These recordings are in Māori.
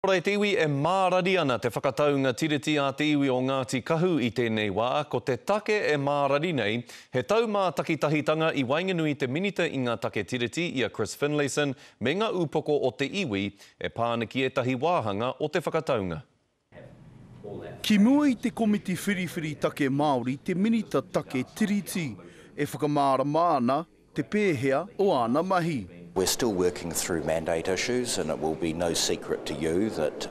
Kore te iwi e mārari ana te whakataunga Tiriti a te iwi o Ngāti Kahu i tēnei wā, ko te take e mārari nei, he tau mā takitahitanga i waenganui te Minita i ngā Take Tiriti i a Chris Finlayson me ngā upoko o te iwi e pā ana ki ētahi wāhanga o te whakataunga. Ki mua i te Komiti Whiriwhiri Take Māori te Minita Take Tiriti e whakamārama ana te pēhea o āna mahi. We're still working through mandate issues and it will be no secret to you that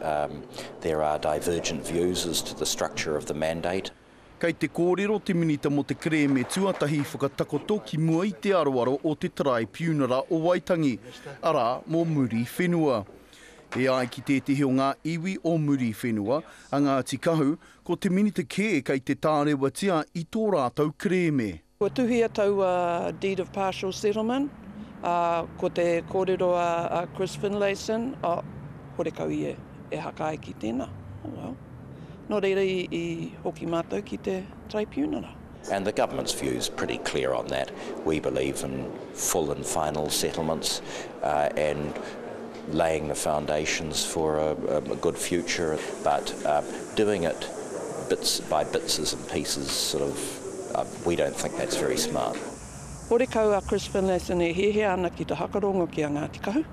there are divergent views as to the structure of the mandate. Kei te kōrero te Minita mō te Kerēme Tuatahi whakatakoto ki mua i te aroaro o te Taraipiunara o Waitangi, arā, mō Muriwhenua. E ai ki tētehi o ngā iwi o Muriwhenua, a Ngāti Kahu, ko te Minita kē kei te tārewatia i tō rātou kerēme. Kua tuhia taua Deed of Partial Settlement, ā, ko te kōrero a Chris Finlayson, oh, horekau ia e hakae ki tēnā, oh well. Nō reira i hoki mātou ki te Traipiunara. And the government's view is pretty clear on that, we believe in full and final settlements, and. laying the foundations for a good future but doing it bits by bits and pieces sort of we don't think that's very smart. Horekau a Chris Finlayson e hiahia ana ki te hakarongo ki a Ngāti Kahu.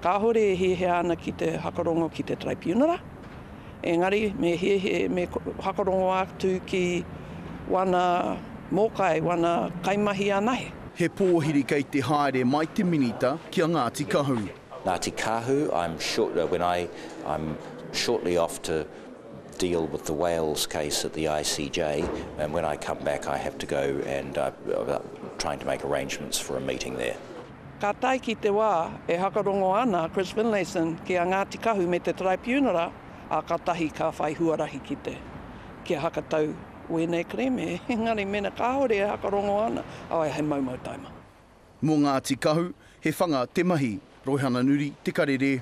Kāhore e hiahia ana ki te hakarongo ki te Taraipiunara. Engari, me hiahia, me whakarongo atu ki wana mōkai, wana kaimahi anahe. He pōhiri kei te haere mai te Minita ki a Ngāti Kahu. Ngāti Kahu, I'm sure, when I, I'm shortly off to deal with the Wales case at the ICJ and when I come back I have to go and trying to make arrangements for a meeting there. Ka tae ki te wā e hakarongo ana a Chris Finlayson ki a Ngāti Kahu me te Taraipiunara, ā, kātahi ka whai huarahi ki te kia hakatau wēnei kerēme, engari mēnā kāore e hakarongo ana, aue he maumau taima. Mō Ngāti Kahu, he whanga te mahi. Roihana Nuri, Te Karere.